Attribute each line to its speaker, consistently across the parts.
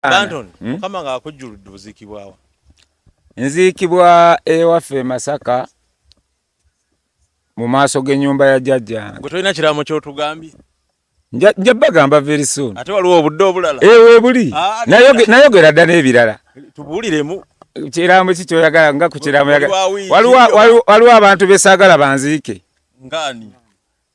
Speaker 1: Danton hmm? mukama nga akujjuludde oziikibwawa nziikibwa
Speaker 2: ewaffe e masaka mu maaso g'ennyumba ya jajja gwe tolina kiraamo
Speaker 1: kyotugambye nja
Speaker 2: bagamba very soon ate waliwo obudde obulala
Speaker 1: eh, webuli
Speaker 2: ah, nayogera dda n'ebirala tubuuliremu
Speaker 1: kiraamo ki
Speaker 2: kyoyagala nga ku kiraamo waliwo abantu besaagala banziike ngaani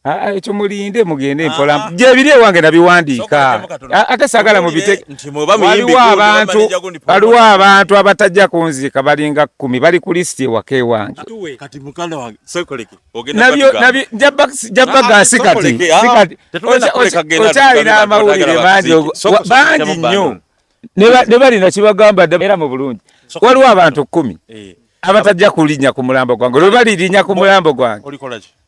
Speaker 1: Ah, ah, ekyo
Speaker 2: mulinde mugende mpola ah, gyebiri ewange nabiwandiika ate sagala mubitewaliwo abantu waliwo abantu abatajja kunziika balinga kumi bali ku lisiti ewaka ewange jabagasi katikyalina amawulire mangi bangi nnyo ne balina kibagamba era mu bulungi waliwo abantu kumi eh. abatajja kulinya ku mulambo gwange lwe balirinya ku mulambo gwange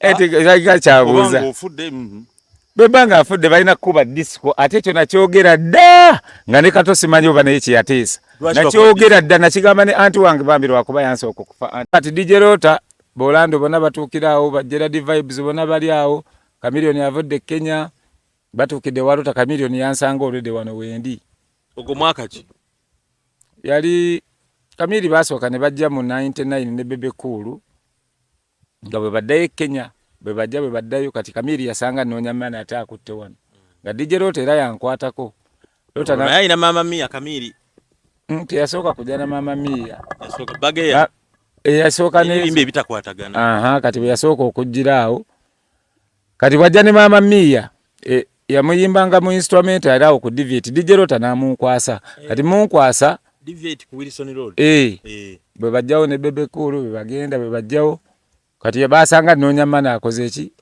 Speaker 2: etikakika eh, kyabuuza
Speaker 1: mhm. bweba nga
Speaker 2: afudde balina kukuba disiko ate ekyo nakyogera dda nga ne kato simanyi oba naye kyeyateesa nakyogera dda nakigamba ne anti wange bambi lwakuba yansooka okufa ati dj rota bolando bona batuukira awo bajeradi vibes bona bali awo kamilioni avudde kenya batuukidde walota kamilioni yansanga olwedde wano wendi ogwo mwaka
Speaker 1: ki yali
Speaker 2: kamili basooka ne bajja mu 99 ne bebe kuulu nga bwe baddayo e Kenya bwe bajja bwe baddayo kati Kamiiri yasanga nnoonya maana ate akutte wano nga DJ Loota era yankwatako Loota naye
Speaker 1: alina maama Mia Kamiiri mm, teyasooka
Speaker 2: kujja na maama Mia yasooka bageya
Speaker 1: eyasooka eh,
Speaker 2: n'ebimba ebitakwatagana
Speaker 1: kati bwe yasooka
Speaker 2: okujjira awo kati bwajja ne maama miiya e, yamuyimbanga mu instrument era awo ku dvt dj lota namunkwasa kati munkwasa dvt ku wilson
Speaker 1: road eh, eh. bwe
Speaker 2: bajjawo ne bebe cool bwe bagenda bwe bajjawo kati yabasanga nonya mana akoze eki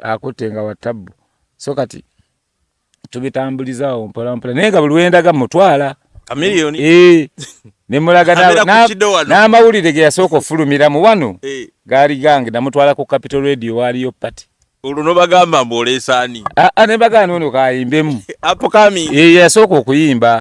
Speaker 2: akutte nga watabbu so kati tubitambuliza awo mpola mpola naye nga buli wendaga mutwala kamiliyoni eh nemulaga n'amawulire ge yasooka ofulumira mu wano eh. gaali gange namutwala ku capital radio waaliyo pati olwo nobagamba
Speaker 1: mbu oleesaani
Speaker 2: aa ah, ah, ne
Speaker 1: bagamba
Speaker 2: ono kayimbemu apukami
Speaker 1: eh,
Speaker 2: yasooka okuyimba